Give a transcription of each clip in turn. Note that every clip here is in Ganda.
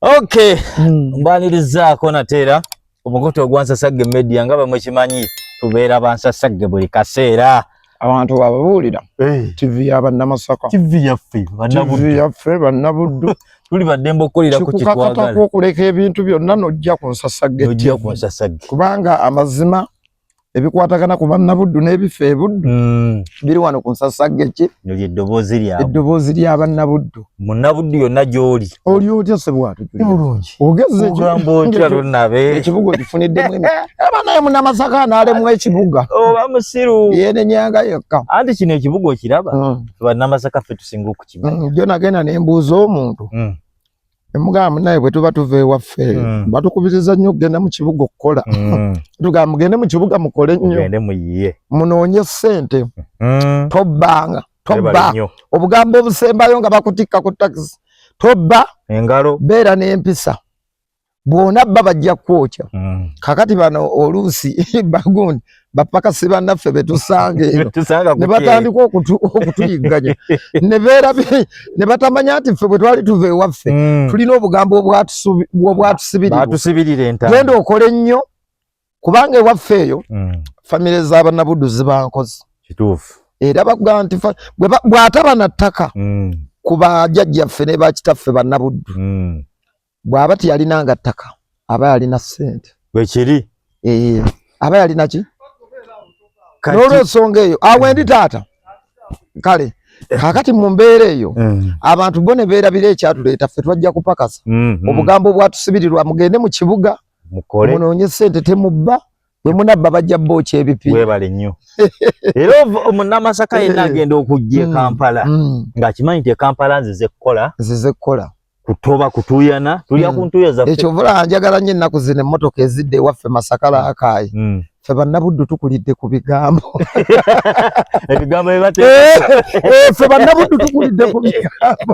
Okay. Mm. Mbanirizaako nate era omukutu ogwansasagge media nga bamwekimanyi tubeera bansasagge buli kaseera abantu bababuulira eh. tv ya bannamasaka tv yaffe yaffe bannabuddu tuli baddembe okukolera ku kitwagala okuleka ebintu byonna nojja ku nsasagge kubanga amazima ebikwatagana ku bannabuddu n'ebifa ebuddu mm. biri wano ku nsasagge ki eddoboozi lya bannabuddu munnabuddu yonna gy'oli oli otya sebwatogezzeekibuga okifuniddemu aba naye munamasaka anaalemu ekibuga oba musiru yenenyanga yekka anti kino ekibuga okiraba mm. bannamasaka ffe tusinga okukimanya mm, jo nagenda nembuuza omuntu Emugamba munaye bwe tuba tuva ewaffe mm. batukubiriza nnyo okugenda mu kibuga okukola mm. tugamba mugende mu kibuga mukole nnyo munoonye ssente mm. tobbanga tobba obugambo obusembayo nga bakutikka ku takisi tobba engalo beera n'empisa bwona bba bajja kwokya mm. kakati bano oluusi bagundi bapakasi bannaffe betusanga eno ne batandika okutuyigganya ne batamanya nti ffe bwe twali tuva ewaffe hmm. tulina obugambo obwatusibiriragenda okole nnyo kubanga ewaffe eyo hmm. famire z'abanabudu zibankozi era bakugamba nti bw'ataba na ttaka hmm. ku bajajjaffe ne bakitaffe bannabuddu bwaba tiyalina nga ttaka aba yalina sente wekiri ee eh, aba yalina ki nolwensonga eyo awo endi taata kale kakati mu mbeera eyo mm. abantu bo ne beerabira ekyatuleeta ffe twajja kupakasa mm-hmm. obugambo obwatusibirirwa mugende mu kibuga munoonye sente temubba bwe munabba bajja bookya ebipi weebale nnyo era omunamasaka yenna eh. agenda okujja e mm. kampala mm. ng'akimanyi nti e kampala nzize kukola nzize kukola kutoba kutuyana tulya mm. ku ntuuyo zaffe ekyo vula njagala nnyo ennaku zino emmotoka ezidde ewaffe masaka laakaayi ffe bannabuddu tukulidde ku bigambo ebigambo byebatefe eh, eh, bannabuddu tukulidde ku bigambo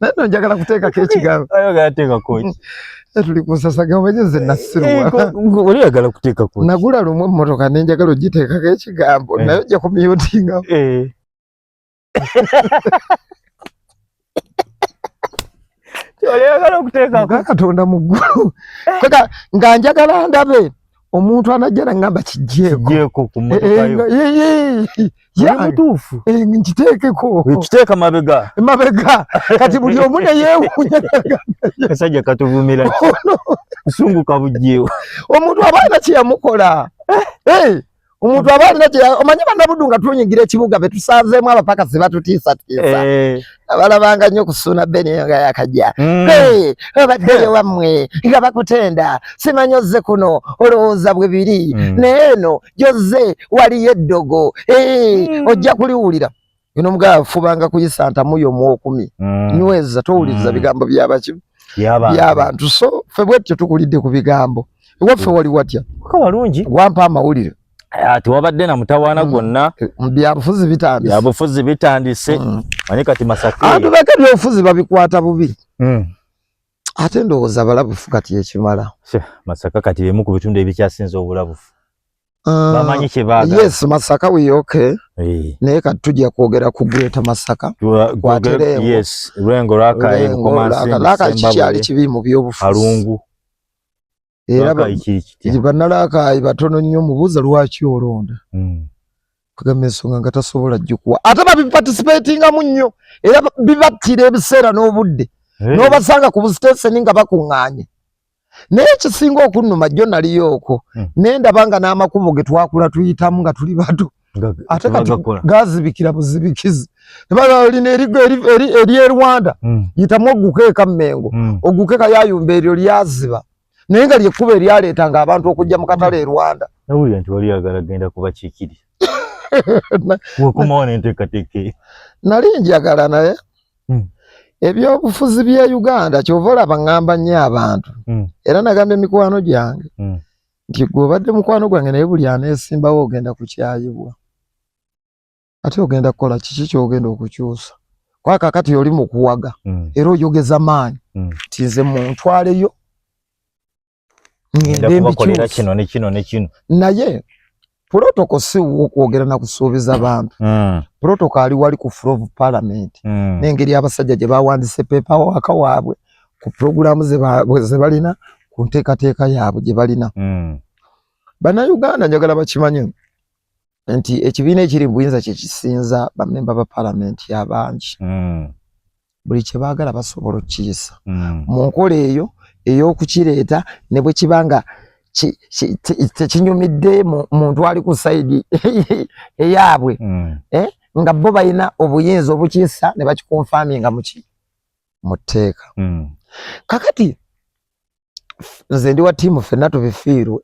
naye no njagala kuteekako ekigambo ayagala teekako ki tuli ku nsasage omenye nze nasirwa oli oyagala kuteekako nagula lumu emmotoka ne njagala ogiteekako ekigambo eh. naye ojja kumyutinga eh. kyoli oyagala okuteekako katonda mu ggulu eh. nga njagala ndabe omuntu anajja nangamba kijjeeko mutuufu nkiteekeko kiteeka mabega mabega kati buli omu neyewunya kasajja katuvumira kusunguka bujjeewo omuntu aba alina kyeyamukola eh! omuntu aba alina kye omanyi banabudu nga tunyigira ekibuga betusanzeemu abapakasi batutiisatiisa eh. abalabanga nnyo ku suuna beni eyo nga yakajja mm. obaddeyo wammwe nga bakutenda simanyi ozze kuno olowooza bwe biri mm. naye eno gyozze waliyo eddogo mm. ojja kuliwulira ino mugala fubanga kuyisa ntamu yomu okumi nyweza towuliriza bigambo byabaki byabantu so fe bwetyo tukulidde ku bigambo ewaffe wali watya walungi wampa amawulire Ah, tewabadde na mutawaana mm. gwonna mm, byabufuzi bitandise byabufuzi bitandise mm. manyi kati masaka abantu bake byobufuzi babikwata bubi ate ndowooza balabufu kati ekimala masaka kati bimu ku bitundu ebikyasinza obulabufu ah, bamanyi kyebaga yes masaka wiyoke eh. naye kati tujja kwogera ku greata masaka kwatereewoyengo lwakaekikyali kibi mu byobufuzi era banalakaayi batono nnyo mubuuza lwaki olonda hmm. kugamba ensonga nga tasobola jjukuwa ate babiparticipatingamu nnyo era bibattira ebiseera n'obudde eh. n'obasanga ku busiteseni nga bakuŋŋaanye naye ekisinga okunnuma jjo naliyo okwo hmm. nendaba nga n'amakubo ge twakula tuyitamu nga tuli bato ate kati gazibikira buzibikizi lino erye rwanda hmm. yitamu ogukeeka mumengo hmm. ogukeeka yayumba eryo lyaziba naye nga lyekkuba eryaleeta nga abantu okujja mu katale e rwanda nawulira nti wali yagala genda kubakikiri wekumawo nenteekateeka nali njagala naye hmm. ebyobufuzi bya uganda kyova olaba ngamba nnyo abantu era nagamba emikwano gyange nti gwe obadde mukwano gwange naye buli aneesimbawo ogenda kukyayibwa ate ogenda kukola kiki kyogenda okukyusa kwaka kati oli mukuwaga mm. era oyogeza maanyi mm. ti nze muntwaleyo naye protocol si wokwogera na kusuubiza bantu mm. protocol ali wali ku floor of parliament mm. nengeri abasajja gye bawandise pepa waka waabwe ku programu ze balina ku nteekateeka yaabwe gye balina mm. bannayuganda njagala bakimanye nti ekibiina ekiri mu buyinza kyekisinza bamemba ba palamenti abangi mm. buli kye baagala basobola okukiyisa mm. mu nkola eyo ey'okukireeta ne bwe kiba nga tekinyumidde muntu ali ku sayidi eyaabwe mm. eh, nga bo balina obuyinza obukisa ne bakikonfami nga muki mu tteeka mm. kakati nze ndi wa tiimu fenna tubifiirwe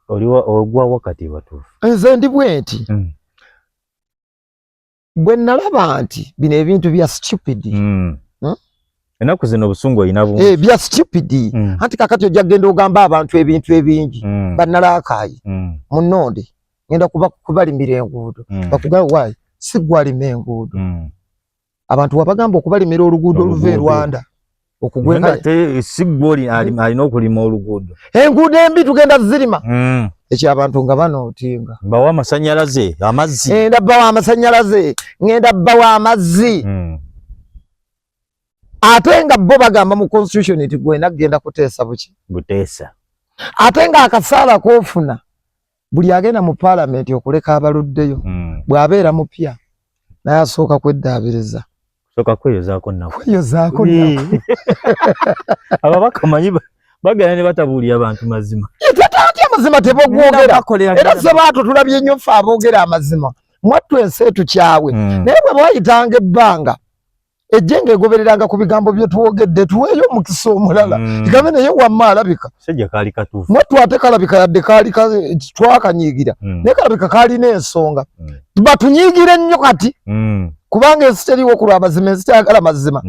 ogwa wakati batuufu nze ndi bwenti bwe nalaba nti bino ebintu bya stupid mm. hmm? enaku zino obusungu olina bu eh, bya stupid mm. anti kakati ojja kugenda ogamba abantu ebintu ebingi mm. banalakaayi mm. munonde ngenda kuba kubalimira enguudo mm. bakugaa wayi sigwalima enguudo mm. abantu wabagamba okubalimira oluguudo oluva e rwanda okugweka ate si gwoli alina okulima oluguudo enguudo embi tugenda zirima hmm. ekyo abantu nga banootinga bawa amasanyalaze amazzi ngenda bawa amasanyalaze ngenda bawa amazzi hmm. ate nga bo bagamba mu constitution nti gwena kugenda kuteesa buki buteesa ate nga akasaala kofuna buli agenda mu palamenti okuleka abaluddeyo hmm. bw'abeera mupya naye asooka kweddaabiriza soka kweyozaako nabo kweyozaako nabo ababaka manyi bagenda ne batabuulira bantu mazima tatya mazima tebogwogera era sebaato tulabye nnyo ffe aboogera amazima mwattu ensi etukyawe hmm. naye bwe bayitanga ebbanga ejjenga egobereranga ku bigambo bye twogedde tuweeyo omukisa omulala mm. kigambe naye wamma alabika mwattu ate kalabika yadde kaali twakanyiigira mm. naye kalabika kaalina ensonga mm. batunyiigire nnyo kati mm. kubanga ensi teriwo ku lwamazima ensi teyagala mazima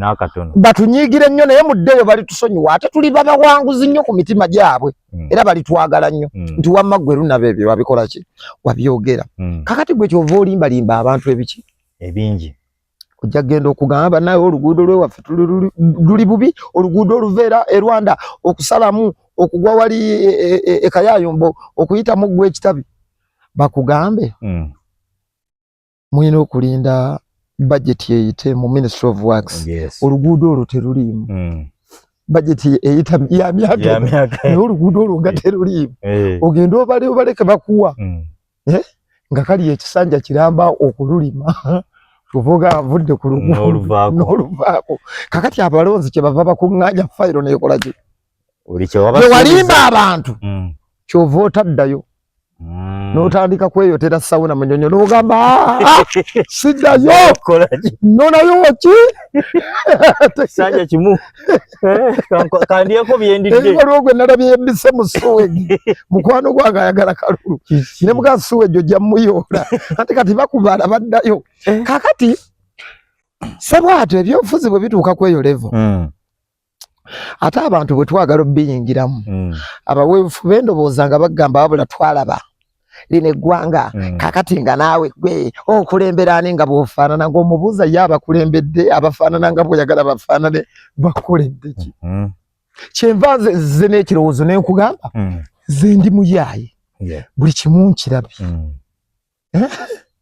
batunyiigire nnyo naye muddeyo balitusonyiwa ate tuli babawanguzi nnyo ku mitima gyabwe mm. era balitwagala nnyo mm. nti wamma ggwe lunaba ebyo babikolaki wabyogera mm. kakati gwe kyova olimbalimba abantu ebiki ebingi ojja kugenda okugamba banaye oluguudo lwewaffe luli bubi oluguudo oluveera e rwanda okusalamu okugwa wali ekayayombo e, e, e okuyita mu ggwa ekitabi bakugambe mm. mulina okulinda bajeti eyite mu ministry of works yes. oluguudo olwo teruliimu mm. bajeti eyita yamyaka naye oluguudo olwo nga eh. teruliimu eh. ogenda obale obaleke bakuwa mm. eh? nga kali ekisanja kiramba okululima kuvuga avudde ku luguuluvaako kakati abalonzi kyebava bakuŋŋanya fayiro nekola ki wewalimba abantu mm. kyova otaddayo mm. notandika kweyotera sawuna munyonyo nogamba ah, ah, siddayo nonayo ki eh, kandyeko byendiddeebibalwa gwe nalabye mbise mu suwegi mukwano gwange ayagala kalulu ne muga suwegi ojja muyoola anti kati bakubaala baddayo eh. kakati sebwatyo ebyobufuzi bwe bituuka kweyo levo hmm. ate abantu bwe twagala obiyingiramu hmm. abaweebufu bendobooza nga bagamba wabula twalaba lino eggwanga mm. kakati nga naawe gwe okulembera ani nga bwofaanana ngaomubuuza ye abakulembedde abafaanana nga bwoyagala bafaanane bakukoledde ki mm -hmm. kyenva nze nzize n'ekirowoozo ne nkugamba mm. ze ndi muyaaye yeah. buli kimu nkirabye mm.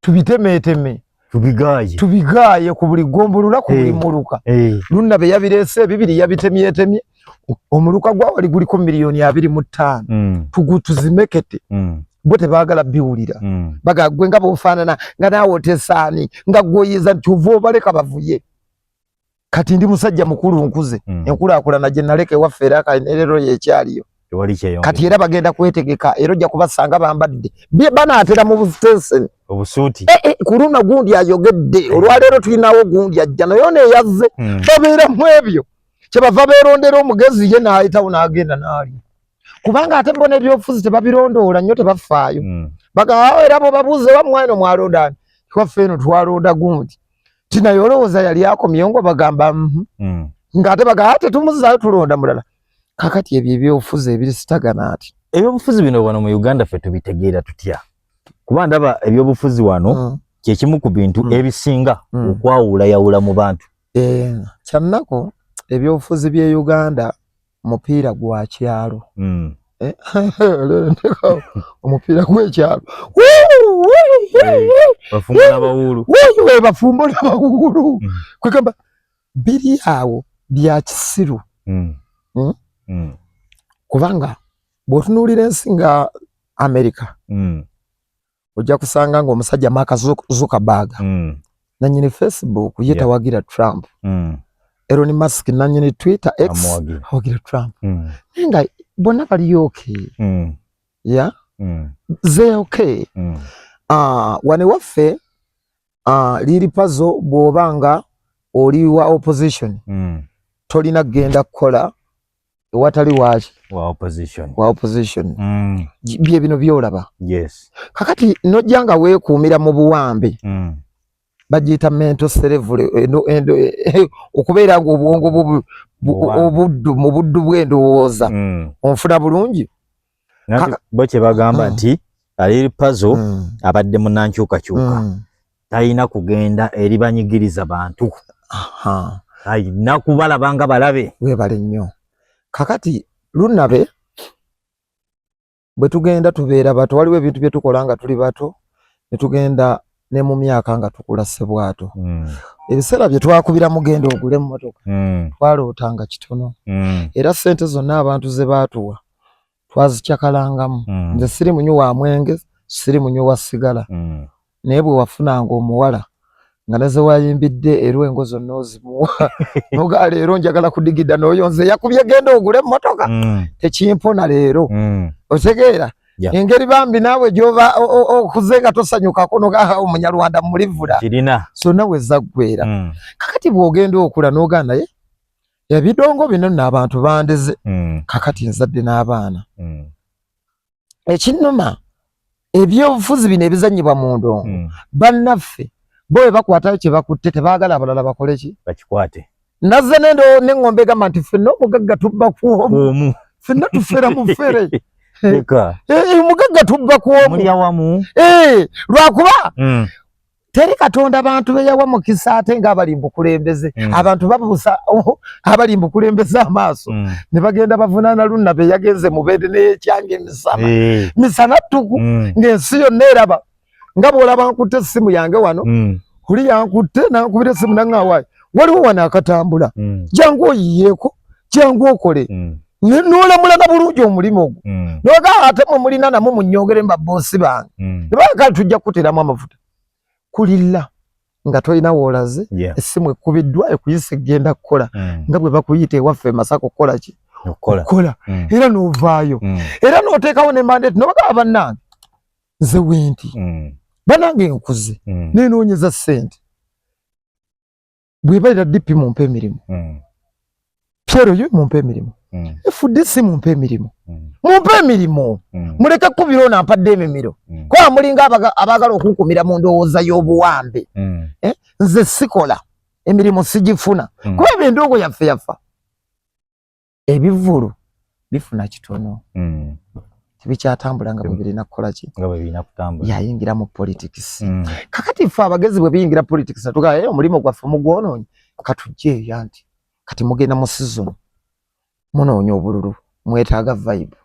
tubitemeeteme tubigaaye tubigaaye ku buli ggombolola ku buli eh, muluka eh. lunna be yabireese ebibiri yabitemyetemye omuluka gwa wali guliko miliyoni abiri mu ttaano hmm. tugutuzimekete hmm. bo tebaagala biwulira hmm. baga gwe nga bofaanana nga naawe otesaani nga gwoyiza nti ova obaleka bavuye kati ndi musajja mukulu nkuze mm. enkulakulana gye naleka ewaffe era kanerero yekyaliyo kati era bagenda kwetegeka era ojja kubasanga bambadde banaatera mu busitenseni obusuuti eh, eh, ku luno gundi ayogedde eh. olwaleero tulinawo gundi ajja naye ono eyazze mm. babeera mu ebyo kyebava beerondera omugezi ye naayitawo n'agenda naali kubanga ate bona ebyobufuzi tebabirondoola nnyo tebafaayo mm. bagaao era bobabuuza oba mwana omwalondani twaffe eno twalonda gundi tina yolowoza yali yako miongo bagamba mhm. mm. nga ate baga ate tumuzayo tulonda mulala kakati ebyo ebyobufuzi ebiri sitagana ati ebyobufuzi bino wano mu uganda fe tubitegeera tutya kuba ndaba ebyobufuzi wano mm. kyekimu ku bintu mm. ebisinga mm. okwawulayawula mu bantu e, eh, kyannako ebyobufuzi bye uganda mupiira gwa kyalo hmm. eh, omupiira gwekyalo bafumbo nabawuulu hmm. kwegamba biri awo bya kisiru hmm. kubanga bwotunuulira ensi nga amerika ojja kusanga nga omusajja maka zuckerberg mm. nanyini facebook ye tawagira yeah. trump mm. elon musk nanyini twitter x awagira trump mm. naye nga bonna baliyo oke mm. ya mm. ze oke mm. uh, wane waffe uh, ah, liri pazo bwoba nga oli wa opposition mm. tolina kugenda kukola ewatali waaki wa opposition, wa opposition. Mm. bye bino byolaba yes. kakati nojja nga weekuumira mu buwambe mm. bagiyita mento serevule eh, eh, eh, okubeera nga obwongo obuddu mu buddu bw'endowooza mm. onfuna bulungi bo kyebagamba hmm. nti ali pazo hmm. abadde munankyukakyuka hmm. talina kugenda eri banyigiriza bantu alina kubalaba nga balabe webale nnyo kakati lunabe bwe tugenda tubeera bato waliwo ebintu bye tukola nga tuli bato ne tugenda ne mu myaka nga tukula sebwato mm. ebiseera bye twakubira mugenda ogule emmotoka mm. twalootanga kitono mm. era ssente zonna abantu ze baatuwa twazicakalangamu mm. nze siri munywi wa mwenge siri munywi wa sigala mm. naye bwe wafunanga omuwala nga ne zewayimbidde erwengo zonna ozimuwa noga leero njagala kudigida nooyo nze yakubye genda ogule emmotoka mm. tekimpona leero mm. otegeera yeah. engeri bambi naawe gyoba okuze nga tosanyukako nogaa omunyarwanda mulivula kirina so nawe zaggwera mm. kakati bw'ogenda okula nogaa naye ebidongo bino nno abantu bandize mm. kakati nzadde n'abaana mm. ekinnuma ebyobufuzi bino ebizanyibwa mu ndongo mm. bannaffe bo bwe bakwatayo kye bakutte tebaagala abalala bakole ki bakikwate nazze nendo neŋŋombe egamba nti fenna omugagga tubba kwomu fenna tufera mufere eh, eh, omugagga tubba kwomu eh, lwakuba mm. teri katonda bantu beyawa mukisa ate nga abali mbukulembeze mm. abantu babusa oh, abali mbukulembeze amaaso mm. ne bagenda bavunana lunna beyagenze mubede neyekyange misana hey. misana tuku mm. ngaensi yonna eraba nga bwolaba nkutte essimu yange wano mm. huli yankutte nankubira essimu nangawayo waliwo wano akatambula mm. jangu oyiyeeko jangu okole mm. nolamulaga bulungi omulimu ogwo mm. noga ate mwe mulina namwe munyongere mu baboosi bange mm. nebakali tujja kukuteramu amafuta kulilla nga tolina woolaze yeah. essimu ekkubiddwa ekuyisa ekgenda kukola mm. nga bwe bakuyita ewaffe masaka okukola ki okukola mm. era novaayo mm. era noteekawo ne mandate nobagaba bannange nze wenti mm. bannange nkuze mm. nenoonyeza ssente bwebalira DP mumpe emirimu mm. Piero yo mumpe emirimu mm. FDC mumpe emirimu mm. mumpe emirimu mm. muleke kubiro na mpadde emimiro mm. kwa mulinga abaga, abagala okukumira mu ndowooza y'obuwambe mm. eh? nze sikola emirimu sijifuna mm. kuba ebyo endogo yaffe yafa ebivulu bifuna kitono mm. tebikyatambula nga bwebirina kukola ki nga bwebirina kutambula yayingira mu politics mm. kakati ffe abagezi bwe biyingira politics natugaa hey, eh, omulimu gwaffe mugwonoonyi katujje eyo anti kati mugenda mu season munoonya obululu mwetaaga vibe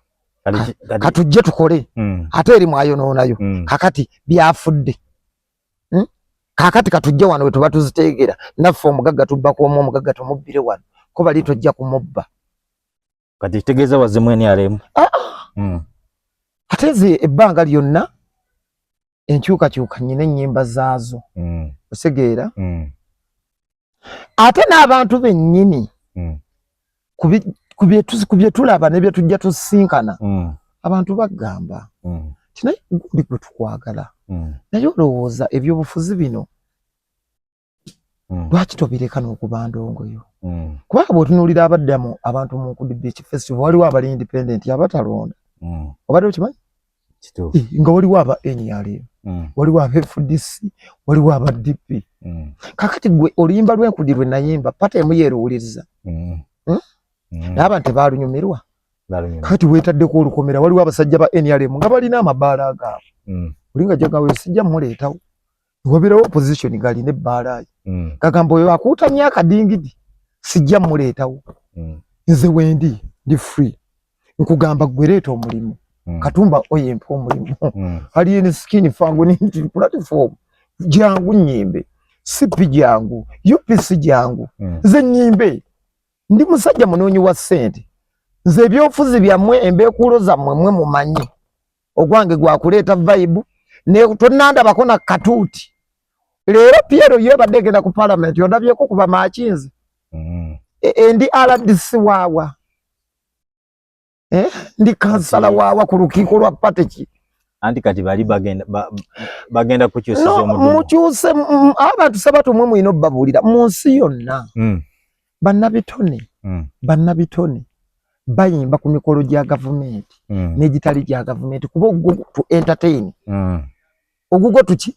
katujje tukole mm. ate eri mwayonoonayo mm. kakati byafudde hmm? kakati katujje wano wetuba tuzitegera naffe omugagga tubba kuomu omugagga tumubbire wano ko bali tojja kumubba kati kitegeeza wazimu nrm ah, ah. hmm. ate nze ebbanga lyonna enkyukakyuka nyina ennyimba zaazo hmm. osegeera ate n'abantu bennyini mm. ku bye tulaba ne bye tujja tusisinkana mm. abantu bagamba mm. ti naye guli gwe tukwagala mm. naye olowooza ebyobufuzi bino mm. lwaki tobireka n'okuba ndongoyo mm. kubanga bwetunuulira abaddamu abantu mu nkudibiki festival waliwo abali independent abatalonda mm. obadde okimanyi nga waliwo aba nrm mm. waliwo aba fdc waliwo aba dp mm. kakati gwe oluyimba lwenkudi lwe nayimba pata emu yeruwuliriza mm. hmm? naye abantu baalunyumirwa kakati wetaddeko olukomera waliwo abasajja ba nrm nga balina amabaala agaabwe olinga jagawe sijja muleetawo wabirawo opposition gali ne balayi mm. kagamba oyo akuta myaka dingidi sijja muletawo mm. nze wendi ndi free nkugamba gwereta omulimu mm. katumba oye mpa omulimu mm. ali in skin fangu ni platform jangu nyimbe sipi jangu upc jangu mm. nze nyimbe ndi musajja munonyi wa sente nze byofuzi bya mwe embekulo za mwe mwe mumanyi ogwange gwa kuleeta vibe ne tonandabako na katuuti leero piero yebadde egenda ku palamenti ondabyeko kuba makinzi mm. e, e, ndi rdc waawa eh, ndi kansala waawa ku lukiiko lwa pateki anti kati bali bagenda ba, bagenda kukyusa no, mukyuse abantu sabato mwe mwino babulira munsi yonna mm. bannabitone mm. bannabitone bayimba ku mikolo gya gavumenti mm. n'egitali gya gavumenti kuba ogwo tu entertain mm. ogugwo tuki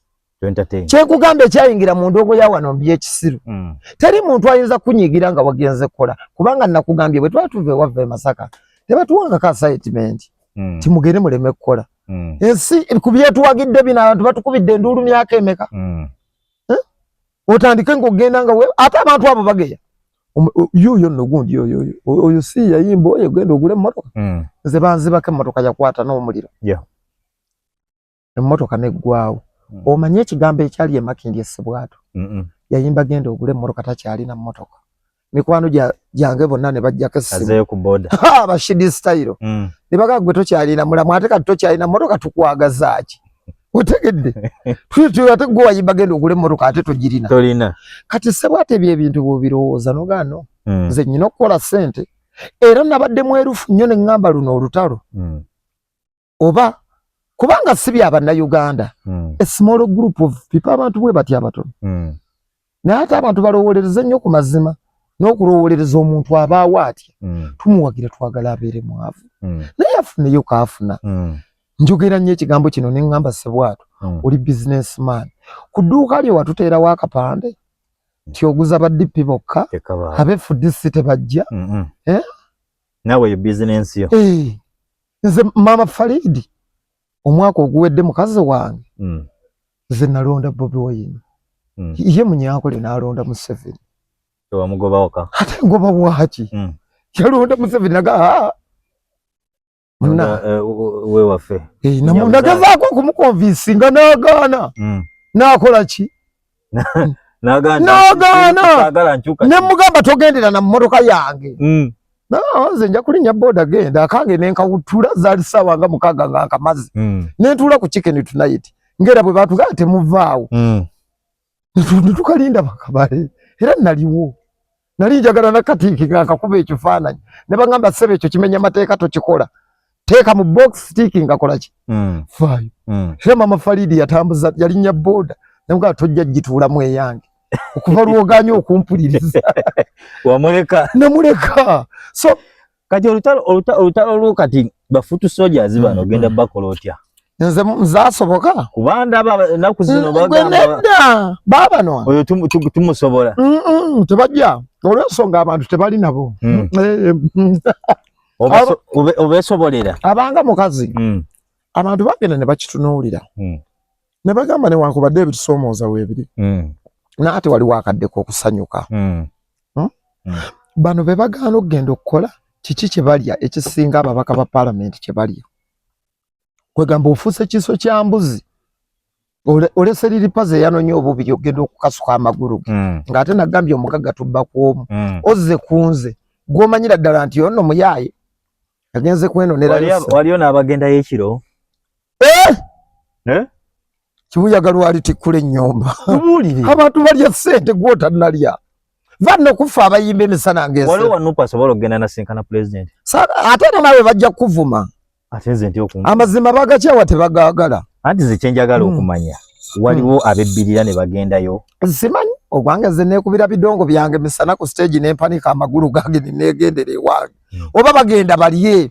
kyenkugamba ekyayingira mu ndongo ya wano mbi ekisiru mm. teri muntu ayinza kunyigira nga wagenze kukola kubanga nakugambye bwe twali tuva ewava e masaka tebatuwangako asaitimenti mm. timugere muleme kukola mm. ensi ku byetuwagidde bino abantu batukubidde enduulu myaka emeka mm. otandike ng'ogenda nga ate abantu abo bageya yuyo nno gundi oyo oyo si yayimba oyo genda ogule emmotoka hmm. nze banzibako emmotoka yakwata n'omuliro emmotoka neggwawo hmm. omanye ekigambo ekyali emakindi essibwato yayimba genda ogule emmotoka takyalina mmotoka mikwano gyange bonna ne bajjako essibashidi sitayiro mm. ne baga gwe tokyalina mulamu ate kati tokyalina mmotoka tukwagazaaki otegedde ate gwe wayimba genda ogula emmotoka ate togirina kati sebo ate ebyo ebintu bwobirowooza nogaano mm. nze nyina okukola sente era nabadde mwerufu nnyo ne ŋŋamba luno olutalo mm. oba kubanga si bya bannayuganda mm. a small group of people abantu bwe batya abatono mm. naye ate abantu balowolereza nnyo ku mazima n'okulowolereza omuntu abaawo atya mm. tumuwagira twagala abeere mwavu mm. naye afuneyo kaafuna mm. njogera nnyo ekigambo kino ne ŋŋamba sebwato mm. oli business man ku dduuka lyo watuteerawo akapande mm. ti oguza badippi bokka abefudisi tebajja mm -mm. eh? nawe yo bizinensi yo hey. Eh. nze mama Faridi omwaka oguwedde mukazi wange mm. nze nalonda Bobi Wine mm. ye munyankole nalonda Museveni tewamugobawoka ate ngoba waki mm. yalonda Museveni naga ah. eh, we wafe eh, nagezaako okumukonvinsinga nagaana mm. nakola ki nagaana ne mugamba togendera na mmotoka yange mm. nze nja kulinnya boda genda akange nenkawutula zaali saawa nga mukaaga nga nkamazi mm. nentuula ku chicken tonight ngaera bwe batugaa temuvaawo mm. netukalinda bakabale era naliwo nali njagala nakatiiki nga nkakuba ekifaananyi ne bagamba ssebe ekyo kimenya mateeka tokikola teeka mu box stiiki ngakolaki mm. faayo mm. era mama faliidi yatambuza yalinnya booda namugaa tojja gituulamu eyange okuva lwoganya okumpuliriza wamuleka namuleka so kati olutalo olutalo lwo kati bafutu soldiers mm, bano ogenda mm. bakola otya nze nzasoboka kuba ndaba enaku zino bagamba baba no oyo tumusobola tebajja olwensonga abantu tebali nabo mm. eh, eh, obesobolera abanga mukazi abantu bagenda ne bakitunuulira ne bagamba newankubadde ebitusomooza weebiri mm. naate waliwo akadde k'okusanyuka mm. Hmm? Mm. bano be bagaana okugenda okukola kiki kye balya ekisinga ababaka ba palamenti kye balya kwegamba ofuuse kiso kya mbuzi olese liri paze yanonye obubiri ogenda okukasuka amagulu ge mm. ng'ate nagambye omugagga tubba ku omu mm. ozze ku nze gw'omanyira ddala nti ono muyaaye agenze kwenonera waliyo n'abagendayo ekiro eh? Eh? kibuyaga lwalitikkula ennyumba abantu balya sente gwotanalya vanna okuffa abayimba emisana ngeate era nawe bajja kukuvuma amazima bagakyawa tebagagala anti zekyenjagala hmm. okumanya waliwo hmm. abebbirira ne bagendayo zimanyi ogwange nze nekubira bidongo byange misana ku stage nempanika amagulu gange nenegendera ewange hmm. oba bagenda balye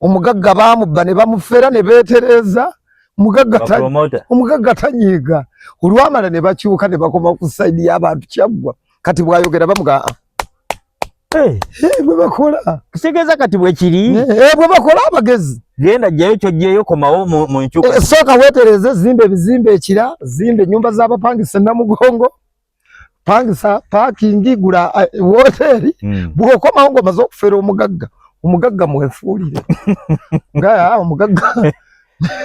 omugagga baamubba ne bamufera ne beetereeza omugagga tanyiiga olwamala ne bakyuka ne bakoma ku sayidi y'abantu kyaggwa kati bwayogera bamugaa ah. eh. eh, bwe bakola kitegeeza kati bwekiri eh, bwe bakola abagezi genda jjayo kyojjeeyo komawo mu nkyuka sooka weetereeze zimba ebizimba ekira zimba ennyumba z'abapangisa namugongo pangisa parking gula eh, woteri mm. bwokoma ngo mazo kufera omugagga omugagga mwefuulire ngaya omugagga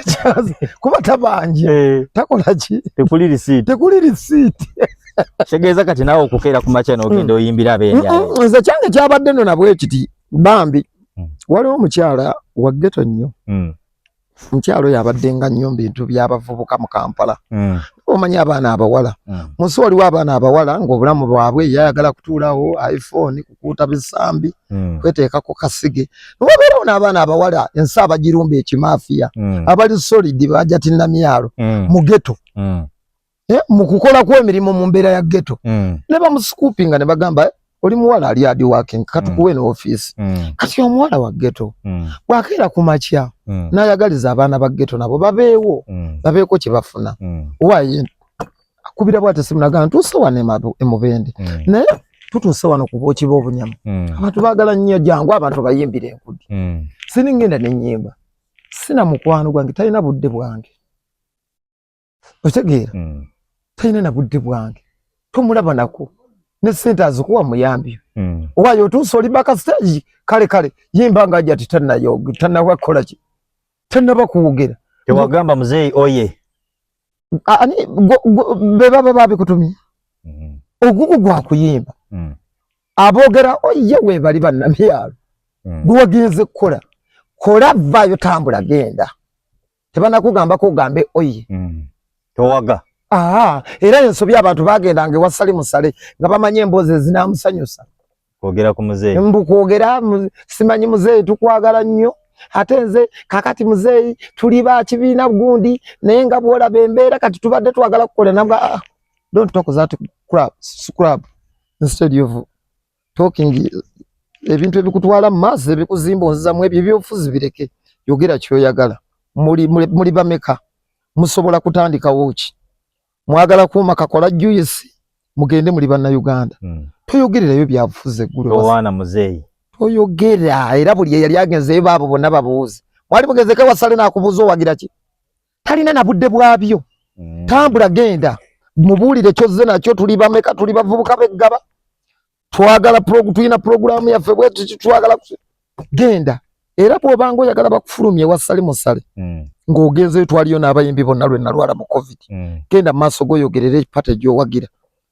kyazi kuba tabanje hey. Eh. takola ki tekuli receipt tekuli receipt kitegeeza kati naawe okukeera ku makya n'ogenda mm. oyimbira ab'enjala mm, mm, nze kyange kyabadde no nabwe kiti bambi waliwo omukyala wa ggeto nnyo mukyalo oyo abadde nga nnyo mu bintu by'abavubuka mu kampala hmm. omanyi abaana abawala hmm. munsi waliwo abaana abawala ng'obulamu bwabwe yayagala kutuulawo iphone kukuuta bisambi hmm. kweteeka ku kasige nobabeerawo n'abaana abawala ensi abagirumba ekimafiya abali solidi bajatinna myalo mu geto eh, mu kukola kw'emirimu mu mbeera ya ghetto mm. ne bamusikuupinga ne bagamba eh, oli muwala ali adi working katukuwe mm. ne office mm. kati omuwala wa ghetto mm. bwakeera ku makya mm. n'ayagaliza abaana ba ghetto nabo babeewo mm. babeeko kye bafuna mm. waye akubira bwate simu nagamba ntuuse wano emubende mm. naye tutuuse wano kuba okiba obunyama mm. abantu baagala nnyo jangu abantu bayimbira enkudi mm. siningenda nenyimba sina mukwano gwange talina budde bwange otegeera mm. talina na budde bwange tomulaba nako ne sente azikuwa muyambi mm. owayo otuusa oli baka stage kale kale yimba nga ajati tanayo tanawa kola ki tanaba kuwogera tewagamba mzee oye ani beba baba bikutumye mm. ogugu gwa kuyimba mm. abogera oye we bali banamyalo mm. gwagenze kola kola vayo tambula genda tebanakugambako ogambe oye mm. towaga Aha, era ensobi abantu bagenda nge wasali musale nga bamanye embozi ezinamusanyusa kwogera ku muzeeyi mbu kwogera simanyi muzeeyi tukwagala nnyo ate nze kakati muzeeyi tuli ba kibiina gundi naye nga bwolaba embeera kati tubadde twagala kukola nabwa ah, don't talk that crab, scrub instead of talking ebintu ebikutwala mu maaso ebikuzimba onzizamu ebyo ebyobufuzi bireke yogera kyoyagala muli, muli, muli bameka musobola kutandikawo ki mwagala kuuma kakola juyisi mugende muli bannayuganda mm. toyogererayo byabufuzi eggulwana muzeeyi toyogera era buli eyali agenzeyo baabo bonna babuuzi mwali mugezeko wasale nakubuuza owagira ki talina na budde bwabyo mm. tambula genda mubuulire kyozze nakyo tuli bameka tuli bavubuka beggaba twagala tulina pulogulaamu yaffe bwetuki twagala genda era bwobanga oyagala bakufulumya ewa sali musale mm. ng'ogenzeyo twaliyo n'abayimbi bonna lwe nalwala mu covid mm. genda mu maaso goyogerera epate gyowagira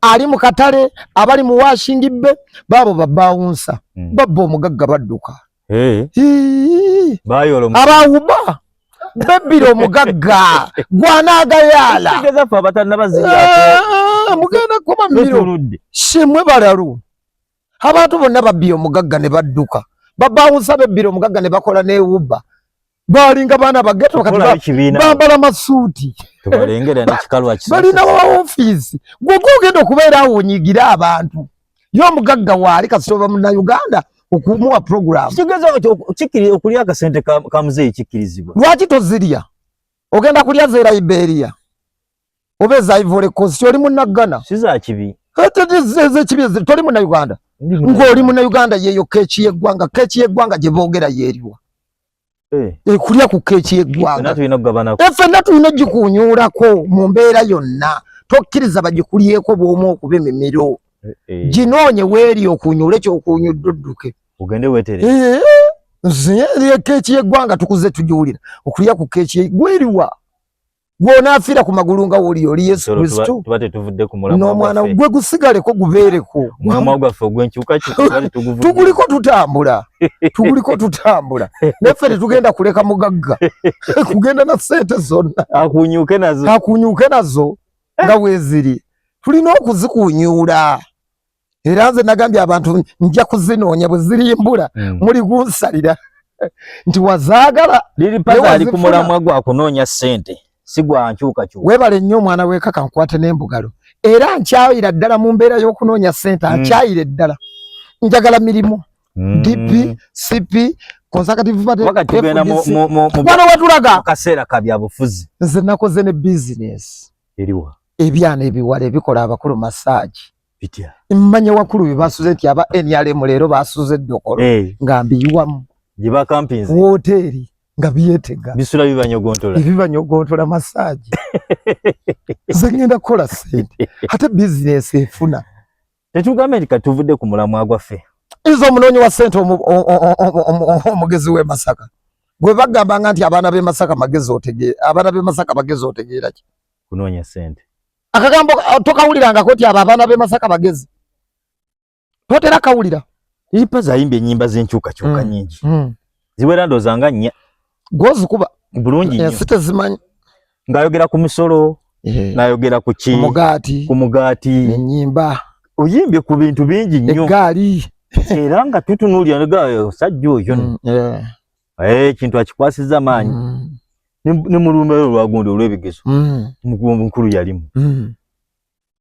ali mu katale abali mu washingi bbe baabo babawunsa hmm. babba omugagga badduka abawuba bebbira omugagga gwanaagayaala ah, mugenda kuba miro simwe balalu abantu bonna babbira omugagga ne badduka babawunsa bebbira omugagga ne bakola newubba balinga baana bageto bambala masuuti balina waofiisi gwogwa ogenda okubeera awo onyigire abantu ye omugagga waali kasita oba munauganda okumuwa programokulya akasente kamuzeeyi kikkirizibwa lwaki tozirya ogenda kulya zera iberia oba ezaivole kosi oli munaggana sizakibi ezekibi toli munauganda ng'oli munauganda yeyo keeki yeggwanga keeki yeggwanga gye boogera yeeriwa eh. eh, kulya ku keeki yeggwanga eh, ffenna tulina ogikuunyuulako mu mbeera yonna tokkiriza bagikulyeko bwomu okuba emimiro ginoonye weeri okuunyuule kyokuunyudde odduke ogende wetere nze keeki yeggwanga tukuze tugiwulira okulya ku keeki gweriwa gwonaafiira ku magulu nga woli oli yesu kristo n'omwana gwe gusigaleko gubeereko tuguliko tutambula tuguliko tutambula naffe tetugenda kuleka mugagga kugenda na sente zonna akunyuke nazo nga weeziri tulina okuzikunyuula era nze nagambye abantu nja kuzinoonya bwe zirimbula hmm. muli gunsalira nti wazaagala liri paza ali ku mulamwa gwa kunoonya ssente si gwa nkyukakyuka weebale nnyo omwana weekaka nkwate n'embugalo era nkyayira ddala mu mbeera y'okunoonya ssente hmm. nkyayire ddala njagala mirimu hmm. dp cp konsakativuwano watulaga kaseera ka byabufuzi nze nakoze ne bizinesi eriwa ebyana ebiwala ebikola abakulu masaagi bitya mmanya wakulu bibasuze nti aba nrm leero basuze eddokolo eh. nga mbiyiwamu gye bakampinzi wooteeri nga byetega bisula bibanyogontola ebibanyogontola masaagi nze ngenda kukola sente ate bizinesi efuna tetugambye nti katuvudde ku mulamwa gwaffe izo omunoonyi wa sente omugezi w'e masaka gwe bagamba nga nti abaana b'e masaka magezi otegeera abaana b'e masaka magezi otegeera ki kunoonya sente akagambo uh, tokawulirangako nti abo abaana b'e masaka bagezi totera kawulira ipa zayimbye ennyimba z'enkyukakyuka mm. nyingi mm. ziwera ndooza nga nnya gwozikuba bulungi nyo ensi tezimanyi ng'ayogera ku misolo eh. n'ayogera ku ki mugaati ku mugaati ennyimba oyimbye ku bintu bingi nnyo eggaali era nga tutunuulira negaayo sajja oyo mm, eh, ekintu akikwasiza maanyi mm. ne mulumbe lwe lwagundi olw'ebigezo mm. mukuwombo nkulu yalimu mm.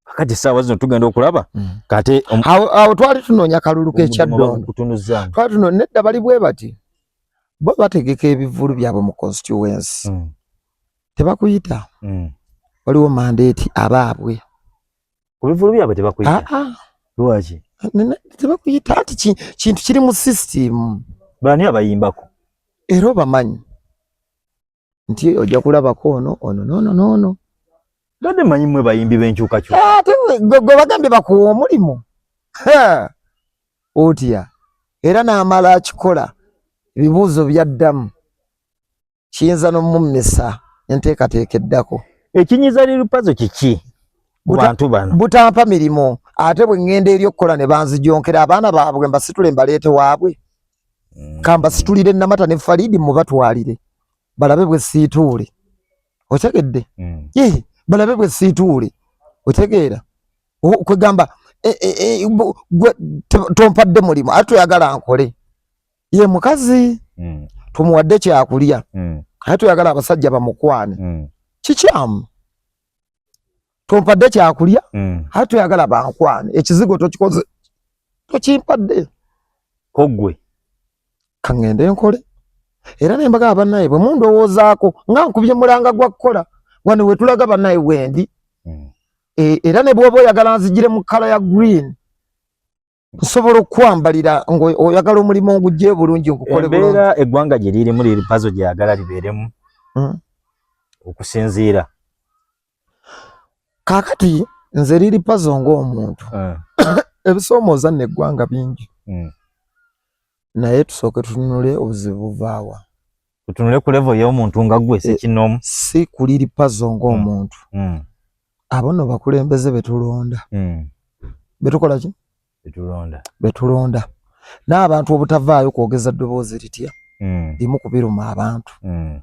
kakati saawa zino tugenda okulaba mm. kate um, awo twali tunoonya kalulu k'ekyaddondo twali tuno nedda bali bwe bati bo bategeka ebivulu byabwe mu constituency mm. tebakuyita mm. waliwo mandeeti abaabwe ku bivulu byabwe tebakuyita ah, ah. lwaki tebakuyita anti kintu kiri mu system bani abayimbako era obamanyi nti ojja kulabako ono ono nono nono bade manyi mwe bayimbi benkyukakyuka ah, gwe bagambye bakuwa omulimu otya era n'amala akikola ebibuuzo byaddamu kiyinza n'omummisa enteekateeka eddako ekinyiza lil pazo kiki kubantu bano butampa mirimu ate bwe ŋŋenda eri okukola ne banzijonkera abaana baabwe mbasitule mbaleete waabwe mm. kambasitulire namata ne faliidi mubatwalire balabe bwe siituule otegedde mm. ye balabe bwe siituule otegeera kwegamba e, e, e, tompadde mulimu ate toyagala nkole ye mukazi mm. tumuwadde kyakulya mm. aye tuyagala abasajja bamukwane mm. kikyamu tompadde kyakulya mm. aye tuyagala bankwane ekizigo tokikoze tokimpadde kogwe kaŋŋende nkole era ne mbaga abanaye bwe mundowoozaako nga nkubye mulanga gwa kukola wano we tulaga banaye wendi mm. e, era ne bwoba oyagala nzijire mu kkala ya green nsobola okukwambalira ngaoyagala omulimu ngugye bulungi nkukoleembeera eggwanga gye lirimu liri pazo gyeyagala libeeremu hmm. okusinziira kaakati nze liri pazo ngaomuntu eh. ebisoomooza nno eggwanga bingi hmm. naye tusooke tununule obuzibu buvaawa tutunule ku level y'omuntu nga gwe si eh, kinomu si kuliri pazo nga mm. omuntu mm. abo no bakulembeze betulonda mm. betukola ki betulonda betulonda n'abantu obutavaayo kwogeza ddoboozi litya mm. limu kubiruma abantu mm.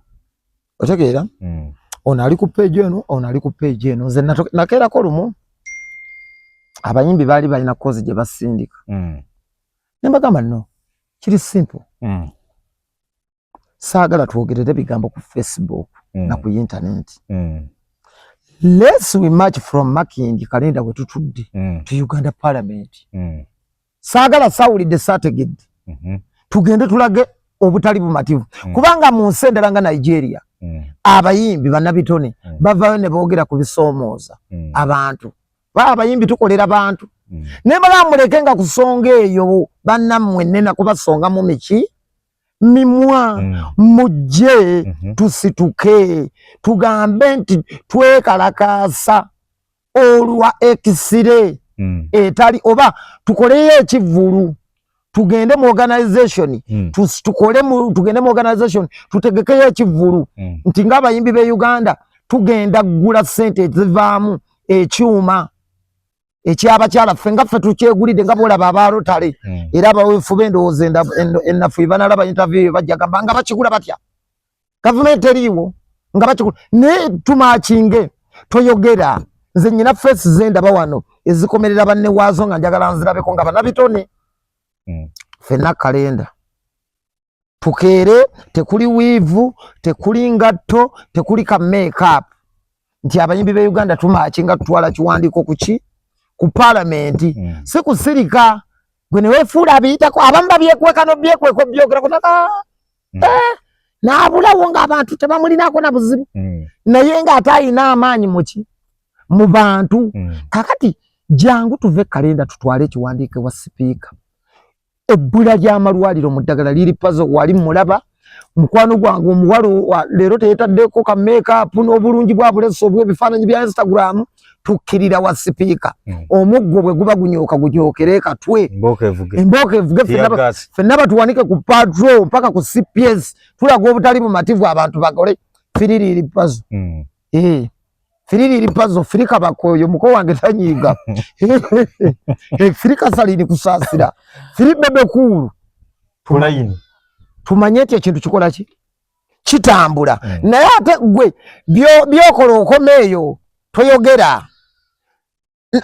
otegeera mm. ono ali ku peegi eno ono ali ku peegi eno nze nakeerako lumu abayimbi baali balina kozi gye basindika mm. ne mbagamba no kiri simple mm. saagala twogerere bigambo ku facebook mm. na ku intaneti mm. lets we march from making kalenda we tutudde mm. to uganda parliament mm. saagala sawulidde saategedde mm -hmm. tugende tulage obutali bumativu mm. kubanga mu nsi endala nga nigeria mm. abayimbi banabitone mm. bavayo ne boogera ku bisoomooza mm. abantu ba abayimbi tukolera bantu mm. ne bala muleke nga kusonga eyo banna mwe nena kuba songa mu miki mimwa mm. mujje mm -hmm. tusituke tugambe nti twekalakasa olwa ekisire mm. etali oba tukoleyo ekivulu tugende mu organization mm. tukole mu tugende mu organization tutegekeyo ekivulu mm. nti nga abayimbi be Uganda tugenda gula sente ezivaamu ekyuma ekyabakyala ffe nga ffe tukyegulidde nga bolaba aba rotary mm. era abawefu bendowooza enafu banalaba interview bajja gamba nga bakigula batya gavumenti eriiwo nga bakikulu naye tumakinge toyogera nze nyina fesi zendaba wano ezikomerera banne waazo nga njagala nzirabeko nga banabitone hmm. fenna kalenda tukeere tekuli wiivu tekuli ngatto tekuli ka makeup nti abayimbi be uganda tumakinga tutwala kiwandiiko kuki ku palamenti hmm. si kusirika gwe newefuula abiyitako abamu babyekweka nobyekweka obyogerako naka mm. eh, naabulawo ng'abantu tebamulinako na buzibu mm. naye ng'ate alina amaanyi muki mu bantu mm. kakati jangu tuve kalenda tutwale ekiwandiike wa sipiika ebbula ly'amalwaliro mu ddagala liri pazo wali mulaba mukwano gwange omuwalo leero teyetaddeko ka makeup n'obulungi bwa buleso obw'ebifaananyi bya instagram tukkirira wa sipiika hmm. omuggo bwe guba gunyooka gunyookere katwe embooka evuge fenna batuwanike ku patro mpaka ku cps tulaga obutali bumativu abantu bakole fiririiri pazo hmm. eh, fiririiri pazo firika bakoyo muko wange tanyiiga eh, firika salini kusaasira firi bebe kuulu tumanye nti ekintu kikola ki kitambula mm. naye ate gwe byokola okoma eyo toyogera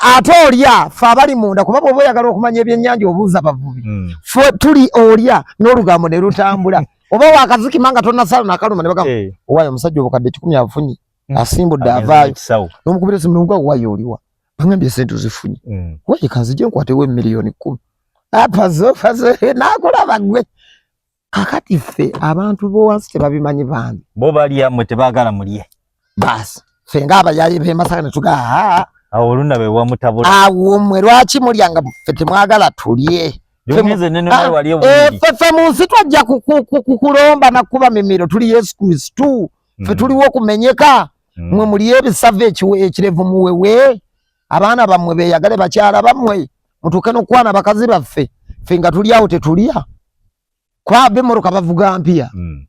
ate olya fe abali munda kuba bwoba oyagala okumanya ebyenyanja obuuza bavubi mm. fe tuli olya n'olugambo ne lutambula oba wakazikima nga tonasala nakaluma ne bagamu hey. Eh. owayo omusajja obukadde kikumi afunye mm. asimbudde avaayo nomukubira esimu nomuga owayo oliwa bangambye sente ozifunye mm. waye kanzije nkwatewo emiliyoni kumi apazofazo nakulaba gwe kakati ffe abantu bowansi tebabimanyi bambi bo balya mwe tebagala mulye basi fe nga abayaye bemasaka netuga awo oluna bewamutabula awo mwe lwaki mulya nga fe temwagala tulye fefe ah, munsi twajja kukulomba nakuba mimiro tuli yesu kristu fe mm. tuliwo okumenyeka mm. mwe mulye ebisavu ekirevu muwewe abaana bammwe beyagale bakyala bammwe mutuuke nokukwana bakazi baffe ffe nga tuli awo tetulya kwaba emmotoka bavuga mpya hmm.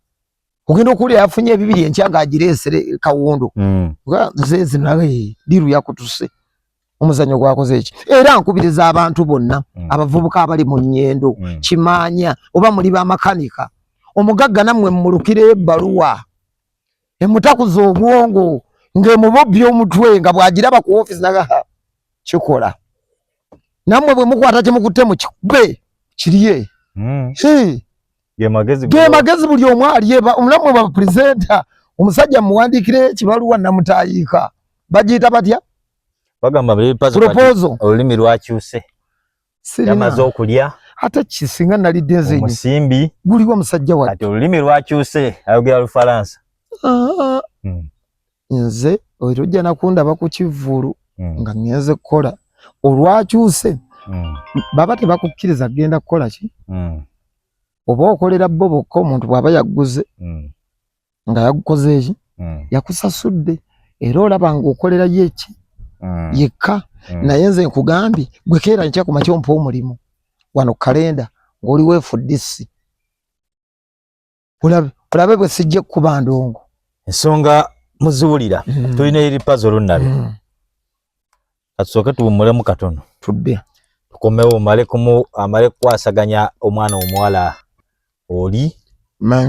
ogenda okuwulira yafunye ebibiri enkya nga agireesere kawundo hmm. zezi naye diru yakutuse omuzanyo gwakoze eki era nkubiriza abantu bonna hmm. abavubuka abali mu nyendo kimanya oba muli bamakanika omugagga nammwe mumulukire ebaluwa emutakuza obwongo ng'emubobbya omutwe nga bw'agiraba ku ofiisi naga kikola nammwe bwe mukwata kye mukutte mu kikube kirye hmm. ge magezi buli omu alyeba omulamu bwa purezenta omusajja muwandiikira ekibaluwa namutayiika bagiyita batya bagamba proposal olulimi lwakyuse yamaze okulya ate kisinga nalidde nze omusimbi guliwo musajja wa kati olulimi lwakyuse ayogera lufalansa ah. hmm. nze oyo ojja nakundaba ku kivvulu hmm. nga ngenze kukola olwakyuse hmm. baba tebakukkiriza kugenda kukola ki oba okolera bo bokka omuntu bwaba yagguze nga yagukoze eki mm. yakusasudde era olaba nga okolera ye eki mm. yekka mm. naye nze nkugambye gwe keera nkya ku makya ompa omulimu wano kalenda ng'oli weefuddisi olabe olabe bwe sijja kukuba ndongo ensonga muziwulira mm. tulina eri pazi olunnabi mm. katusooke tuwummulemu katono tudde tukomewo omale kumu amale kukwasaganya omwana omuwala oli